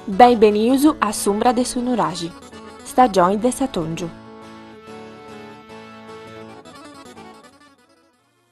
Benvenius a s'umbra de su nuraxi, stagioni de s'atòngiu.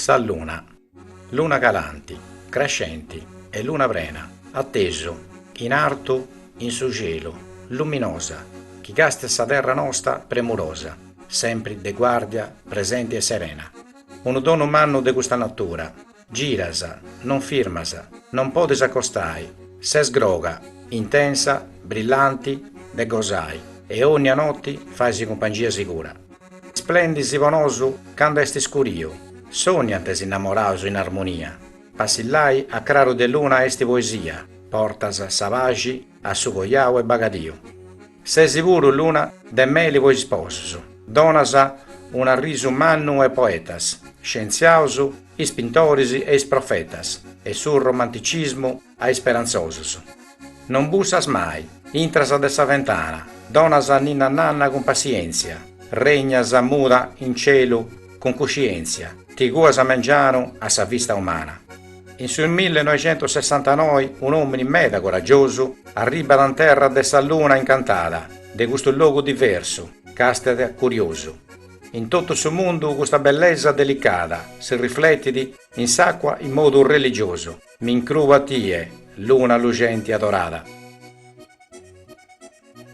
Sa luna, luna calanti, crescenti e luna prena, a tesu, in artu, in su cielu, luminosa, chi càstiat sa terra nosta premurosa, sempri de guardia, presenti e serena. Unu donu mannu de custa natura, Giras, non firmas, non podis acostai, ses groga, intensa, brillanti, de gosai e onnia notti fais cumpangia sigura. Splendis po nosu candu est scuriu, sonniant is innamoraus in armonia, passillai a craru de luna est poesia, portas sa paxi a su coiau e bagadiu. Sesi puru luna de meli po is sposus, donas un'arrisu mannu e poetas, scientziaus, is pintoris e is profetas e su romanticismu a is sperantzosus. Non bussas mai, intras de sa fentana, donas ninnananna cun passientzia, regnas muda in celu cun cuscientzia, ti cuas a mengianu a sa vista umana. In su millenoixentosessantanoi un'òmini meda coragiosu arribbat in terra de sa luna incantada, de custu logu diversu, càstiat curiosu. In totu su mundu custa bellesa delicada si rifletit in s'acua in modu religiosu, mi incrubu a tie, luna luxenti adorada.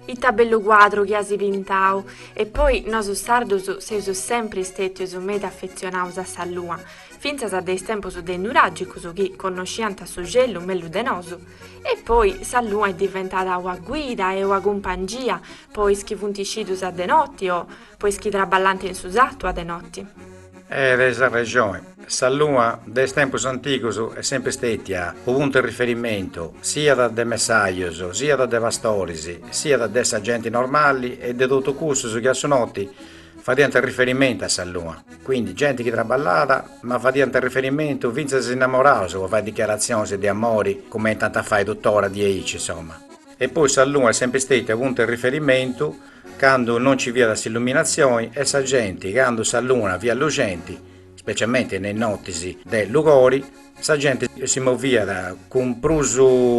Ita bellu cuadru chi asi pintau! E poi nosu sardus seus sempri stetius meda affezionaus a sa lua, finzas de is tempus de is nuragicus chi connoscianta su celu mellus de nosu. E poi sa lua est diventada ua guida e ua cumpangia po is chi funti scidus a de notti o po is chi traballanta in su sattu a de notti. e tenis arrexoni. Sa lua de is tempus antigus est sempri stetia u puntu e riferimentu siat de messajus, siat de pastoris, siat de sa genti normali e de totu cussus chi a su noti fadiant riferimentu a sa lua, quindi genti chi traballàt ma fadiant riferimentu fintzas is innamoraus po fai dichiaratzionis de amori cumenti ant a fai tuttora diaici insomma. E poi sa lua est sempri stetia u puntu e riferimentu candu non ci fiat s'illuminatzioni e sa genti, candu sa luna fiat luxenti, specialmente in is notis de lugori, sa genti si moviat cun prus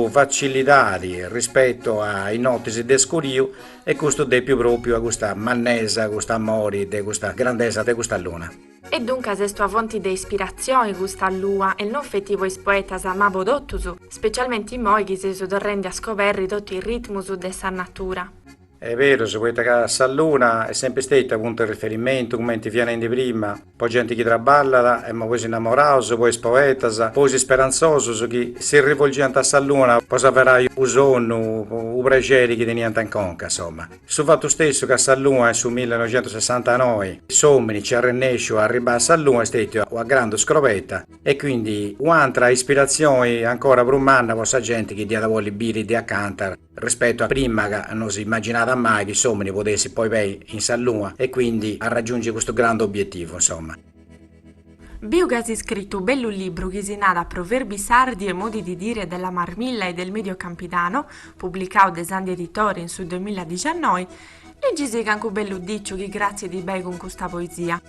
facilidadi rispettu a is notis de scuriu e custu est depiu propriu a custa mannesa, custu amori de custa grandesa de custa luna. E duncas est una fonti de ispiratzioni custa lua e non feti po is poetas ma po totus, specialmente immoi chi seus torrendi a scoberri totu is ritmus de sa natura. Est berus, poita ca sa luna est sempri stetia puntu 'e riferimentu, cumenti fia nendi prima, po genti chi trabballat, emmo po is innamoraus, po is poetas, po is isperantzosus chi si rivolgiant a sa luna po s'averai u sonnu, u prexeri chi teniant in conca, insomma. Su fatu stessu ca sa lua in su millenoixentusessantanoi s'omini nc'est arrennesciu a arribai a sa luna est stetia una grandu scrobetta e quindi u'antra ispiratzioni ancora prus manna po sa genti chi dd'iat bolli biri de acanta Rispetu a prima ca no si imaginàt mai chi s'omini podessit poi pei in sa lua e quindi arragiungi custu grandu obietivu insomma. Biu ca as iscritu u bellu libru chi si nada Proverbi sardi e modi di dire della marmilla e del medio campidano, publicau de Sandhi Editori in su duemilla diciannoi, leggisì cancu bellu diciu chi gratziat bei cun custa poesia.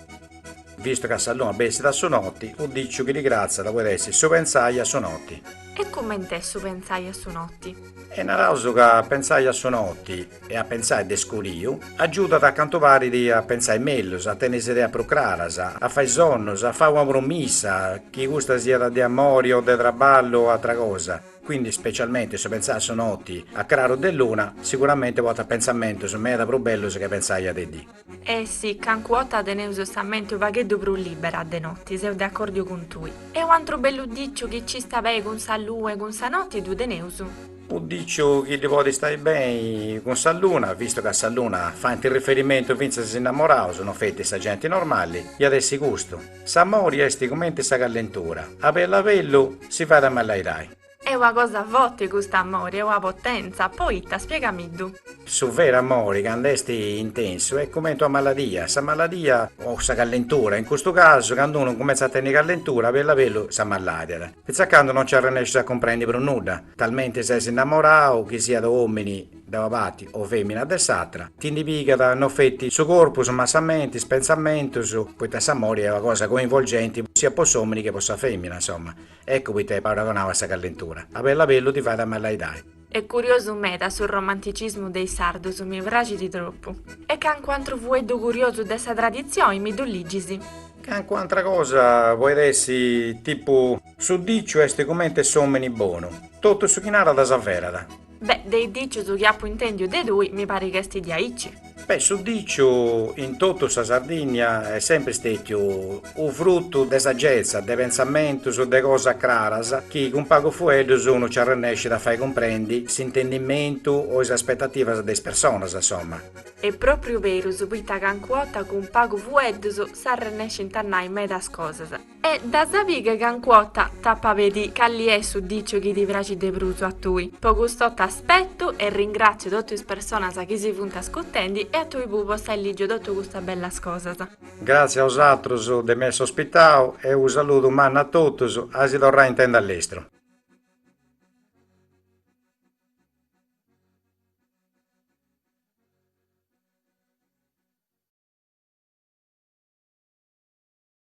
Vistu ca sa luna bessit a su noti, u diciu chi ddi gratziat poit essi su pentzai a su noti. E cumment'est su pentzai a su noti? E naraus ca pentzai a su noti e a pentzai de scuriu agiudat a cantu parit a pentzai mellus, a tenni is ideas prus craras, a fai sonnus, a fai una promissa, chi custa siat de amori o de traballu o atra cosa. Quindi specialmenti su pentzai a su noti a craru de luna, sicuramente portat pentzamentus meda prus bellus che pentzai a de dì. Eh sì, cancu 'otta teneus sa menti u pagheddu prus libera de notti, seu de accordiu cun tui. E u antru bellu diciu chi ci sta bei cun sa lua e cun sa notti ddu teneus. U diciu chi ddi podi stai bei cun sa luna, vistu ca a sa luna faint riferimentu fintzas is innamoraus, no feti sa genti normali, iat essi custu. S'amori esti cumenti sa callentura, a bellu a bellu si fait amalaidai. Est ua cosa foti cust'amori est ua potentza, poita, spiegamiddu. Su veru amori candu est intensu est cumenti ua maladia, sa maladia o sa callentura, in custu casu candu unu cumentzat a tenni callentura a bellu a bellu s'ammalàdiat, fintzas candu non nci arrennescius a cumprendi prus nudda, talmenti ses innamorau chi siat omini de ua parti o femina de s'atra, ti ndi pigat no feti su corpus ma sa menti, is pentzamentus, poita s'amori est ua cosa coinvolgenti siat po s'omini che po sa femina, insomma. Eccu poita est paragonau a sa callentura. A bellu a bellu ti fait amalaidai. Est curiosu meda su romanticismu de is sardus, mi praxit tropu. E cancu antru fueddu curiosu de sa traditzioi mi ddu ligis. Cancu antra cosa poit essi tipu. Su diciu est cumenti s'omini bonu, totu su chi narat s'averat. Beh, de is dicius chi apu intèndiu de tui, mi parit ch'est diaici. Beh, su diciu in totu sa Sardìnnia est sempri stètiu unu frutu de sagetza, de pentzamentus, de cosas craras chi cun pagu fueddus unu nci arrennescit a fai cumprendi s'intendimentu o is aspetativas de is personas, insoma. Est pròpriu berus, poita ca ancu ota cun pagu fueddus s'arrennescint a nai medas cosas. E de sa bia chi ancu ota t'ap'a pedì calli est su diciu chi ti praxit de prus a tui. Po custo t'aspetu e ringràtziu totu is personas chi si funt ascurtendi e a tui puru po s'ai lìgiu totu custas bellas cosas. Gràtzias a bosatrus de m'essi ospitau e unu saludu mannu a totus, a si torrai a intendi a lestru.